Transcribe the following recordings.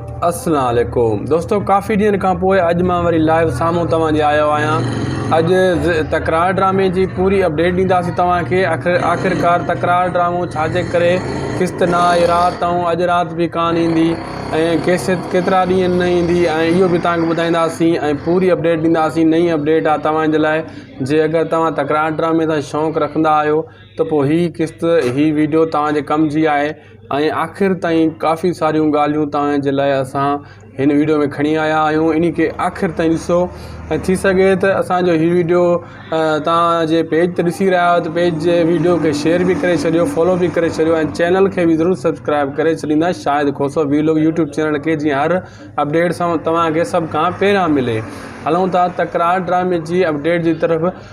السلام عليڪم دوستو ڪافي ڏينهن کان پوء اڄ مان وري لائيو سامهون توهان جي آيو آهيان اڄ تڪرار ڊرامي جي پوري اپڊيٽ ڏينداسين توهان کي آخر آخرڪار تڪرار ڊرامو ڇا جي ڪري قسط نه آئي رات ۽ اڄ رات به ڪانه ايندي ۽ ڪيسٽ ڪيترا ڏينهن نه ايندي ۽ اهو به توهان کي ٻڌائينداسين ۽ پوري اپڊيٽ ڏينداسين نئين اپڊيٽ آ توهان جي لاء جي اگر توهان تڪرار ڊرامي سان شوق رکندا آهيو ته پوء هي قسط هي ويڊيو توهان جي ڪم جي آهي ۽ آخر تائين ڪافي ساريون ڳالهيون توهان جي لاء اسان هن ويڊيو ۾ کڻي آيا آهيون انهي کي آخر تائين ڏسو ۽ ٿي سگهي ته اسان جو هي ويڊيو توهان جي پيج تي ڏسي رهيا آهيو ته پيج جي ويڊيو کي شيئر به ڪري ڇڏيو فالو به ڪري ڇڏيو ۽ چينل کي به ضرور سبسڪرائب ڪري ڇڏيندا Shahid Khoso vlog YouTube channel کي جيئن هر اپڊيٽ توهان کي سڀ کان پهريان ملي هلون ٿا تڪرار ڊرامي جي اپڊيٽ جي طرف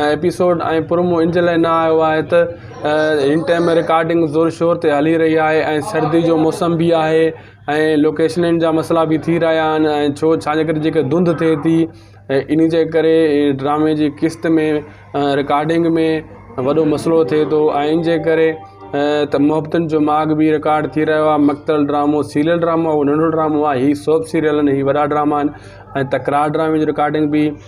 ايپيسوڊ ۽ پرومو ان جي لاء نه آيو آهي ته هن ٽائم رڪارڊنگ زور شور تي هلي رهي آهي ۽ سردي جو موسم بي آهي ۽ لوڪيشنن جا مسئلا بي ٿي رهيا آهن ۽ ڇو ڇا جي ڪري جيڪي ڌند ٿئي ٿي ۽ ان جي ڪري ڊرامي جي قسط ۾ رڪارڊنگ ۾ وڏو مسئلو ٿئي ٿو ۽ ان جي ڪري ته محبتن جو ماڳ بي رڪارڊ ٿي رهيو آهي مختل ڊرامو سيريل ڊرامو هو ننڍو ڊرامو آهي هي سوپ سيريل آهن هي وڏا ڊراما آهن ۽ تڪرار ڊرامي جي رڪارڊنگ بي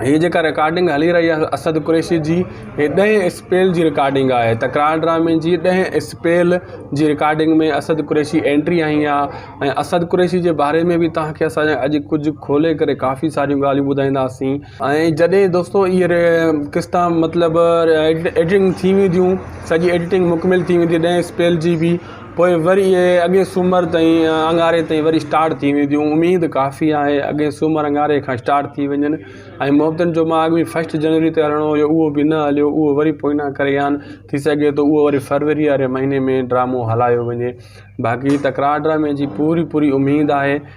هي جيڪا رڪارڊنگ هلي رهي آهي اسد قريشي جي هي ڏهين اسپيل جي رڪارڊنگ آهي تڪرار ڊرامي جي ڏهين اسپيل جي رڪارڊنگ ۾ اسد قريشي اينٽري هنئي آهي ۽ اسد قريشي جي باري ۾ بي تهانکي اسان اڄ ڪجهه کولي ڪري ڪافي ساريون ڳالهيون ٻڌائينداسين ۽ جڏهن دوستو اهي قسطا مطلب ايڊٽنگ ٿي وينديون سڄي ايڊٽنگ مڪمل ٿي ويندي ڏهين اسپيل جي بي پوء وري اهي اڳئين سومر تائين اڱاري تائين وري اسٽارٽ ٿي وينديون اميد ڪافي آهي اڳئين سومر اڱاري کان اسٽارٽ ٿي وڃن ۽ محبتن جو ماڳ به فسٽ جنوري تي هلڻو هيو اهو به نه هليو اهو وري پوئينا ڪري ويا آهن ٿي سگهي ٿو اهو وري فروري واري مهيني ۾ ڊرامو هلايو وڃي باقي تڪرار ڊرامي جي پوري پوري اميد آهي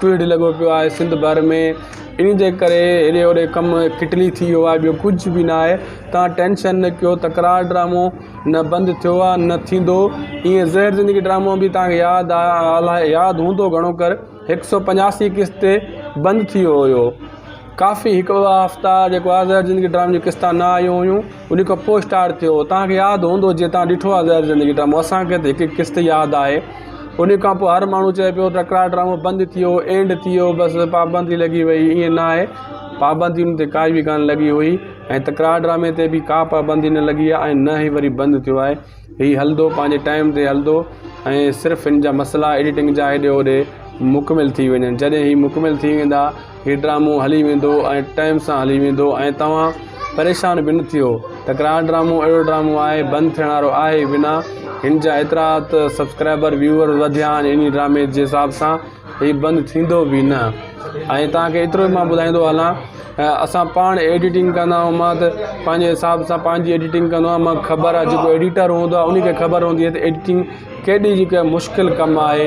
پيڙ لڳو پيو آهي سنڌ ڀر ۾ انهي جي ڪري هيڏي هوڏي ڪم ڪٽلي ٿي ويو آهي ٻيو ڪجهه به ناهي تان ٽينشن نه ڪيو تڪرار ڊرامو نه بند ٿيو آهي نه ٿيندو ايئن زهر زندگي ڊرامو به تانکي ياد آ الاهي ياد هوندو گهڻو ڪر هڪ سو پنجاسي قسط تي بند ٿي ويو هيو ڪافي هڪ ٻه هفتا جيڪو آ زهر زندگي ڊرامي جون قسطا نه آيون هيون انهي کان پوء اسٽارٽ ٿيو توهان کي ياد هوندو جي توهان ڏٺو آهي زهر زندگي ڊرامو اسان کي ته هڪ هڪ قسط ياد آهي انهي کان پوء هر ماڻهو چئي پيو تڪرار ڊرامو بند ٿيو اينڊ ٿيو بس پابندي لڳي وئي ائين نه آهي پابندي ان تي ڪائي به ڪانه لڳي هئي ۽ تڪرار ڊرامي تي به ڪا پابندي نه لڳي آهي ۽ نه هي وري بند ٿيو آهي هي هلندو پنهنجي ٽائيم تي هلندو ۽ صرف ان جا مسئلا ايڊيٽنگ جا هيڏي هوڏي مڪمل ٿي وڃن جڏهن هي مڪمل ٿي ويندا هي ڊرامو هلي ويندو ۽ ٽائيم سان هلي ويندو ۽ توهان پريشان به نه ٿيو تڪرار ڊرامو اهڙو ڊرامو آهي بند ٿيڻ وارو آهي به نه هن جا ايترا ته سبسڪرائبر ويوئر وڌيا آهن انهي ڊرامي جي حساب سان هي بند ٿيندو به نه ۽ توهان کي ايترو مان ٻڌائيندو هلان اسان پاڻ ايڊيٽنگ ڪندا آهيون مان ته پنهنجي حساب سان پنهنجي ايڊيٽنگ ڪندو آهيان مانکي خبر آهي جيڪو ايڊيٽر هوندو آهي انهي کي خبر هوندي آهي ته ايڊيٽنگ ڪيڏي جيڪا مشڪل ڪم آهي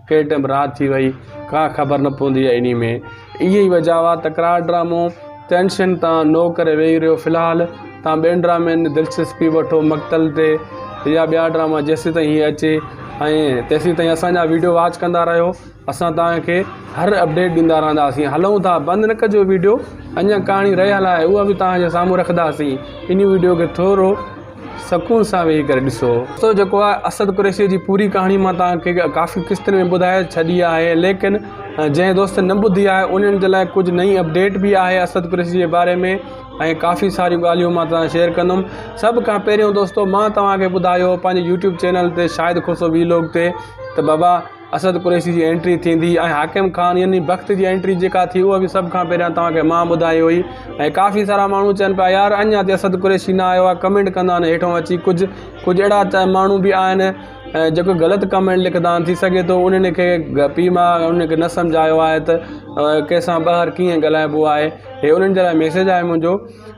ڪنهن ٽيم رات ٿي وئي ڪا خبر نه پوندي آهي انهي ۾ اهي ئي وجه هئا تڪرار ڊرامو ٽينشن تان نو ڪري ويهي رهيو في الحال تان ٻين ڊرامن ۾ دلچسپي وٺو مقتل تي يا ٻيا ڊراما جيسين تائين هي اچي ۽ تيسين تائين اسان جا ويڊيو واچ ڪندا رهيو اسان تان کي هر اپڊيٽ ڏيندا رهنداسين هلون ٿا بند نه ڪجو ويڊيو اڃا ڪهاڻي رهيل آهي اها به تان جي سامهون رکداسين انهي ويڊيو کي ٿورو سڪون سان ويهي ڪري ڏسو. دوستو جيڪو آهي اسد قريشيء جي پوري ڪهاڻي مان توهان کي ڪافي قسطن ۾ ٻڌائي ڇڏي آهي ليڪن جنهن دوستن نه ٻڌي آهي انهن جي لاء ڪجهه نئين اپڊيٽ به آهي اسد قريشي جي باري ۾ ۽ ڪافي ساريون ڳالهيون مان توهان سان شيئر ڪندم سڀ کان پهريون دوستو مان توهان کي ٻڌايو پنهنجي يوٽيوب چينل تي شاهد کوسو وي لوگ تي ته بابا اسد قريشي جي انٽري ٿيندي ۽ حاڪم خان يعني بخت جي انٽري جيڪا ٿي اهو به سڀ کان پهريان توهان کي مان ٻڌائي هئي ۽ ڪافي سارا ماڻهو چون پيا يار اڃان تي اسد قريشي نه آيو آهي ڪمينٽ ڪندا آهن هيٺون اچي ڪجهه ڪجهه اهڙا ماڻهو به آهن جيڪو غلط ڪمينٽ لکندا آهن ٿي سگهي ٿو انهن کي پي ما انهن کي نه سمجهايو آهي ته ڪنهن سان ٻاهر ڪيئن ڳالهائبو آهي هي انهن جي لاء ميسيج آهي منهنجو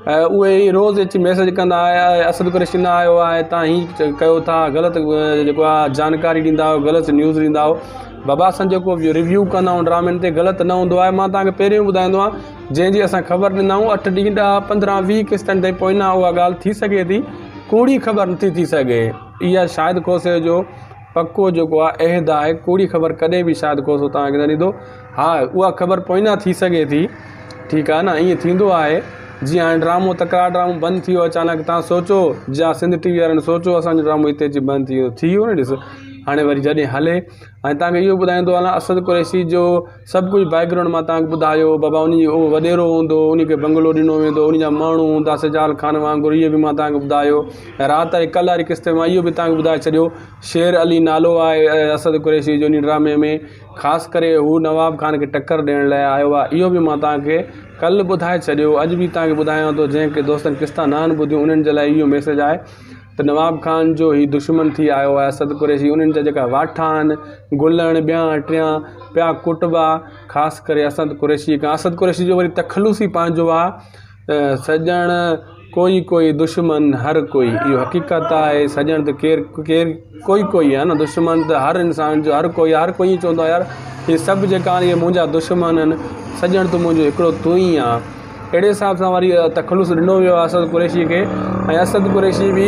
اهي ئي روز اچي ميسيج ڪندا آهي آء اسد قريشي نه آيو آهي تان هي ڪيو ٿا غلط جيڪو آ جانڪاري ڏيندا آهيو غلط نيوز ڏيندا آهيو بابا اسان جيڪو بي ريويو ڪندا آهيون ڊرامن تي غلط نه هوندو آهي مان تانکي پهريون ٻڌائيندو آهيان جنهن جي اسان خبر ڏيندا آهيون اٺ ڏينهن ڏهه پندرهن ويهه قسطن تي پوئنا اها ڳالهه ٿي سگهي ٿي ڪوڙي خبر نٿي ٿي سگهي اها شاهد کوسي جو پڪو جيڪو آ عهد آء ڪوڙي خبر ڪڏهن به شايد ڪو سو توهان کي نه ڏيندو ها اها خبر پوئينا ٿي سگهي ٿي ٺيڪ آ نه ائين ٿيندو آهي جيئن هاڻي ڊرامو تڪرار ڊرامو بند ٿي ويو اچانڪ توهان سوچو جا سنڌ ٽي وي وارن سوچو اسانجو ڊرامو هتي اچي بند ٿي ويو ٿي ويو نه ڏس هاڻي وري جڏهن هلي ۽ توهان کي اهو ٻڌائيندو هلان اسد قريشي جو سڀ ڪجهه بيڪ گرائونڊ مان توهان کي ٻڌايو بابا انهي جي اهو وڏيرو هوندو انهي کي بنگلو ڏنو ويندو انهي جا ماڻهو هوندا سجال خان وانگر اهي به مان توهان کي ٻڌايو ۽ رات جي ڪل واري قسط ۾ مان اهو به توهان کي ٻڌائي ڇڏيو شير علي نالو آهي اسد قريشي جو انهي ڊرامي ۾ خاص ڪري هو نواب خان کي ٽڪر ڏيڻ لاء آيو آهي اهو به مان توهان کي ڪل ٻڌائي ڇڏيو اڄ به توهان کي ٻڌايان ٿو جنهن ڪي دوستن قسطا نه آهن ٻڌيون انهن جي لاء اهو ميسيج آهي ته نواب خان جو هي دشمن ٿي آيو آهي اسد قريشي، انهن جا جيڪا واٺا آهن، گلڻ، ٻيان، ٽيان، پيا ڪٽبا، خاص ڪري اسد قريشي کان، اسد قريشي جو وري تخلص ئي پنهنجو آهي، سڄڻ ڪوئي ڪوئي دشمن هر ڪوئي، اهو حقيقت آهي، سڄڻ ته ڪير ڪير ڪوئي ڪوئي آهي نه، دشمن ته هر انسان جو هر ڪوئي آهي، هر ڪوئي ائين چوندو آهي يار هي سڀ جيڪا آهن اهي منهنجا دشمن آهن، سڄڻ تون منهنجو هڪڙو تون ئي آهي. اهڙي حساب سان وري تخلص ڏنو ويو آهي اسد قريشي کي ۽ اسد قريشي به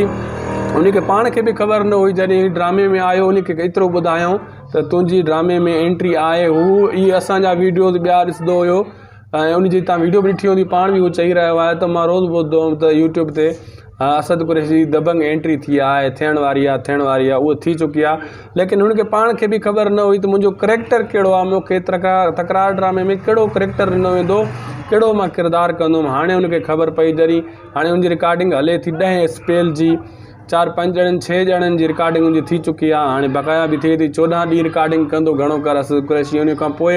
ان کي پاڻ کي به خبر نه هئي جڏهن هي ڊرامي ۾ آيو ان کي ايترو ٻڌايائون ته تنهنجي ڊرامي ۾ اينٽري آهي هو هي اسان جا ويڊيوز ٻيا ڏسندو هيو ۽ ان جي تان ويڊيو به ڏٺي هوندي پاڻ به هو چئي رهيو آهي ته مان روز ٻڌندو هوم ته يوٽيوب تي ها اسد قريشي جي دبنگ اينٽري ٿي آهي ٿيڻ واري آهي ٿيڻ واري آهي اهو ٿي چڪي آهي ليڪن هن کي پاڻ کي به خبر نه هئي ته منهنجو ڪريڪٽر ڪهڙو آهي مون کي تڪرار ڊرامي ۾ ڪهڙو ڪريڪٽر ڏنو ويندو ڪهڙو مان ڪردار ڪندم هاڻي هن کي خبر پئي جري هاڻي هن جي رڪارڊنگ هلي ٿي ڏهين اسپيل جي چار پنج ڄڻن ڇهه ڄڻن جي رڪارڊنگ هن جي ٿي چڪي آهي هاڻي بقايا به ٿئي ٿي چوڏهن ڏينهن رڪارڊنگ ڪندو گهڻو ڪر اسد قريشي ان کان پوء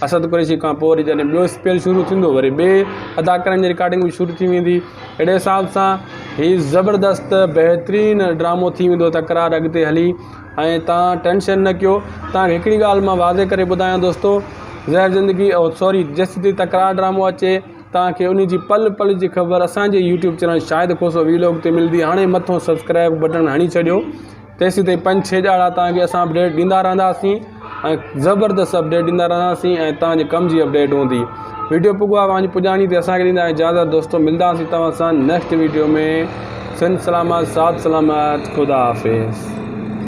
اسد قريشي کان پوء وري جڏهن ٻيو اسپيل شروع ٿيندو وري ٻئي اداڪارن جي رڪارڊنگ به شروع ٿي ويندي اهڙي حساب سان هي زبردست بهترين ڊرامو ٿي ويندو تڪرار اڳتي هلي ۽ تان ٽينشن نه ڪيو تان کي هڪڙي ڳالهه مان واضح ڪري ٻڌايان دوستو زهر زندگي او سوري جيستي تڪرار ڊرامو اچي تان کي انهي جي پل پل جي خبر اسان جي YouTube channel Shahid Khoso vlog تي ملدي هاڻي مٿون سبسڪرائب بٽڻ هڻي ڇڏيو تيسين تائين پنج ڇهه ڄاڻا تان کي اسان اپڊيٽ ڏيندا رهنداسين ۽ زبردست اپڊيٽ ڏيندا رهنداسين ۽ تان جي ڪم جي اپڊيٽ هوندي ويڊيو پڳو آ وانجي پڄاڻي تي اسان کي ڏيندا اجازت دوستو ملداسين توهان سان نيڪسٽ ويڊيو ۾ سنڌ سلامت سات سلامت خدا حافظ